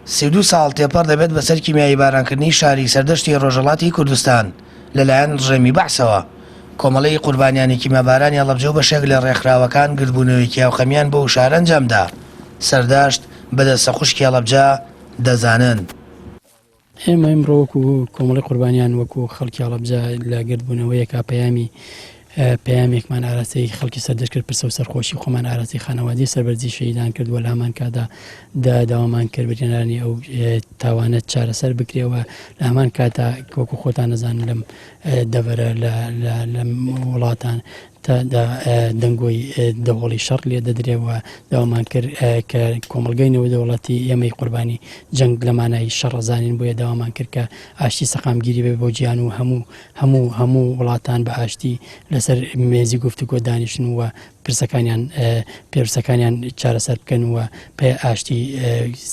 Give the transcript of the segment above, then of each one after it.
سی و دوو ساڵ تێپەڕ دەبێت بەسەر کیمیایی بارانکردنی شاری سەردەشتی ڕۆژەڵاتی کوردستان لەلایەن ڕژێمی بەعسەوە. کۆمەڵەی قوربانیانی کیمابارانی هەڵەبجە و بەشێک لە ڕێکخراوەکان گردبوونەوەیەکی هاوخەمیان بۆ ئو شارە ئەنجامدا. سەردەشت بە دەستە خوشکی هەڵەبجە دەزانن. ئێمە ئیمڕۆ وەکو کۆمەڵی قوربانیان وەکو خەڵکی هەڵبجە لە گردبوونەوەیەکە پەیامی پەیامێکمان ئاراستەی خەڵکی سەردەش کرد پرسە و سەرخۆشی خۆمان ئاراسی خانەوادی سەربەرزی شەیدان کردووە لە هەمان کادا دا داوامان کرد بریێنانی ئەو تاوانە چارەسەر بکرێەوە لە هەمان کاتا کۆکو خۆتان نەزان لەم دەبەرە لە وڵاتان تا دا دەنگۆی دەوڵی شەڕ لێ دەدرێ و داوامان کرد کە کۆمەلگای نێودەوڵەتی ئێمەی قوربانی جەنگ لە مانای شەڕ زانین بۆیە داوامان کرد کە ئاشتی سەقامگیری بێ بۆ جیان و هەموو هەموو هەموو وڵاتان بە ئاشتی لەسەر مێزی گفتوگۆ دانیشتن و پرسەکانیان پێرسەکانیان چارەسەر بکەن و پێ ئاشتی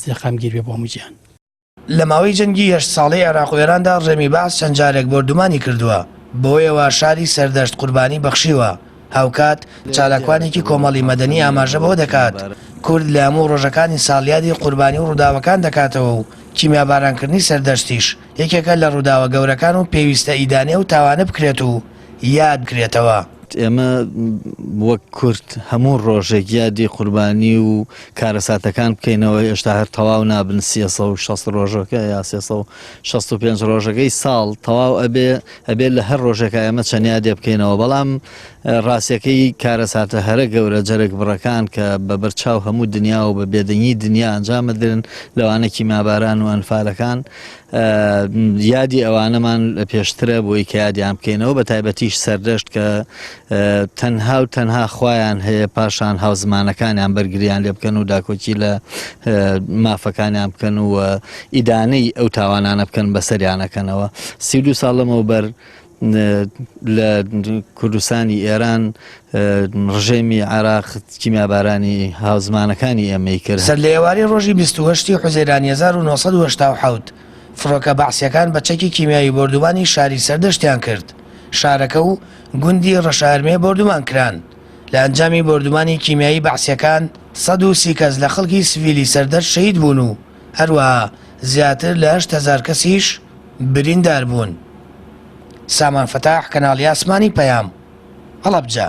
سەقامگیر بێ بۆ هەموو جیان. لە ماوەی جەنگی هەشت ساڵەی عێراق و ئێراندا ڕژێمی بەعس چەند جارێک بۆردومانی کردووە، بەوەیەوە شاری سەردەشت قوربانی بەخشیوە. هاوکات، چالاکوانێکی کۆمەڵی مەدەنی ئاماژە بەوە دەکات، کورد لە هەموو ڕۆژەکانی ساڵ یادی قوربانی و ڕووداوەکان دەکاتەوە و کیمیابارانکردنی سەردەشتیش یەکێکە لە ڕووداوە گەورەکان و پێویستە ئیدانەی ئەو تاوانە بکرێت و یاد بکرێتەوە. ئێمە وەک کورد هەموو ڕۆژێک یادی قوربانی و کارەساتەکان بکەینەوە هێشتا هەر تەواو نابن 360 ڕۆژەکە یا 365 ڕۆژەکەی ساڵ تەواو ئەبێ ئەبێت لە هەر ڕۆژێکە ئێمە چەندیا دێ بکەینەوە بەڵام ڕاستەکەی کارەساتە هەرە گەورە جەرگ بڕەکان کە بە بەرچاو هەموو دنیا و بە بێدەنگی دنیا ئەنجامەدرن لەوانەکی ماباران و ئەنفالەکان یادی ئەوانەمان پێشترە بۆی کە یادیان بکەینەوە بە تایبەتیش سەردەشت کە تەنها و تەنها خۆیان هەیە پاشان هاوزمانەکانیان بەرگریان لێ بکەن و داکۆکی لە مافەکانیان بکەن و ئیدانەی ئەو تاوانانە بکەن بەسەریانەکەنەوە سی دو ساڵ لەمەوە بەر لە کوردستانی ئێران ڕژێمی عێراق کیمیابارانی هاوزمانەکانی ئێمەی کرد. سەر لە ئێوارەی ڕۆژی بیست و هەشت ی حوزەیرانی هەزار و نۆ سەد و هەشتا و حەوت، فڕۆکە بەعسییەکان بە چەکی کیمیاوی بۆردوومانی شاری سەردەشتیان کرد، شارەکە و گوندی ڕەشارمێ بۆردوومان کران. لە ئەنجامی بۆردوومانی کیمیایی بەعسییەکان سەد و سی کەس لە خەڵکی سڤیلی سەردەشت شەهید بوون و هەروەها زیاتر لە هەشت هەزار کەسیش برینداربوون، سامان فتاح، کەناڵی ئاسمانی پەیام، هەڵەبجە.